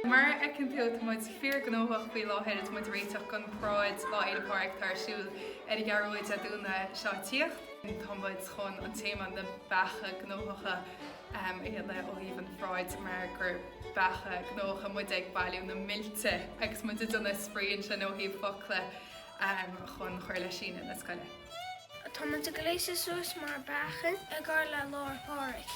Mar a fheiceann tú tá muid fíor gnóthach faoi láthair tá muid ag réiteach chun paráid Lá Fhéile Pádraig atá ar siúl ar an gCeathrú Rua Dé Domhnaigh seo ag tíocht. Tá muid chun an téama na beacha gnóthacha a fhí ó thaobh an pharáid mar gur beacha gnóthacha muid ag bailiú na milte agus muid ag déanamh spraoi ansin ó thaobh foclaí chun cur le síneadh na scoile. Tá muid ag gléasadh suas mar bheacha i gcomhair Lá Fhéile Pádraig.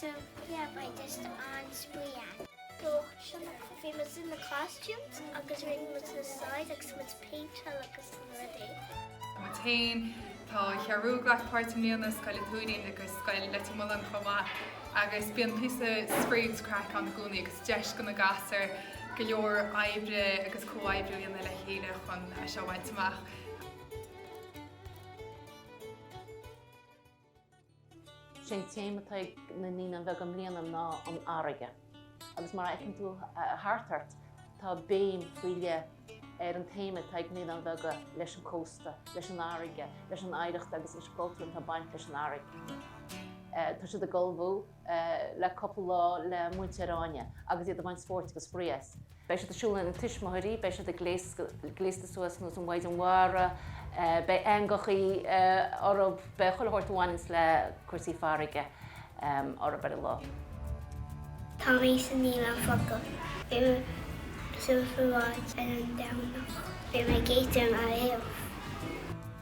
So yeah by just on spuia. So sin bhí muid in na costumes agus rinne muid na side agus muid péinteáil agus na rudaí. Muid féin, tá Scoil na Ceathrún ag glacadh páirt i mbliana, Scoil an Tuairín agus Scoil Leitir Mealláin chomh maith agus bíonn píosa spraoi is craic ann i gcónaí agus deis go na gasúir go leor oibre agus comhoibriú a dhéanamh le chéile chun é seo a bhaint amach. Is é an téama atá ag na naíonáin bheaga i mbliana ná an fharraige agus mar a fheiceann tú thart ort tá béim faoi leith ar an téama atá ag na naíonáin bheaga leis an cósta, leis an bhfarraige, leis an oidhreacht agus leis an gcultúr atá ag baint leis an bhfarraige. Tá siad ag ullmhú. le cúpla lá le múinteoir Áine agus iad ag baint spórt agus spraoi as. Beidh siad ag siúl lena dtuismitheoirí, beidh siad gléasta suas nós an Mhaighdean Mhara, beidh eangachaí orthu, beidh chuile shórt a bhaineanns le cúrsaí farraige orthu ar an lá. Tá mé sa naíonáin bheaga. Beidh mé sa bparáid ar an Domhnach. Beidh mé gléasta mar éan.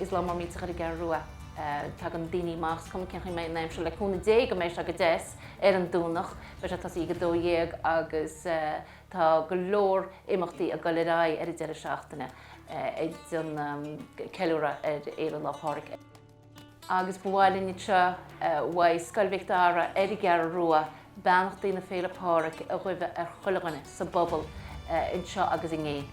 is lá mór millteach é ar an gCeathrú Rua. Tagann daoine amach, is cuma cén chaoi a mbeidh an aimsir, le cúnamh Dé go mbeidh sé go deas ar an Domhnach. Beidh sé ag tosaí ag 12 agus tá go leor imeachtaí ag dul ar aghaidh ar an deireadh seachtaine ag ceiliúradh Lá Fhéile Pádraig. agus ba mhaith linn anseo uaidh Scoil Mhic Dara ar an gCeathrú Rua beannachtaí na Féile Pádraig a ghuibhe ar chuile dhuine sa bpobal anseo agus i nGaillimh.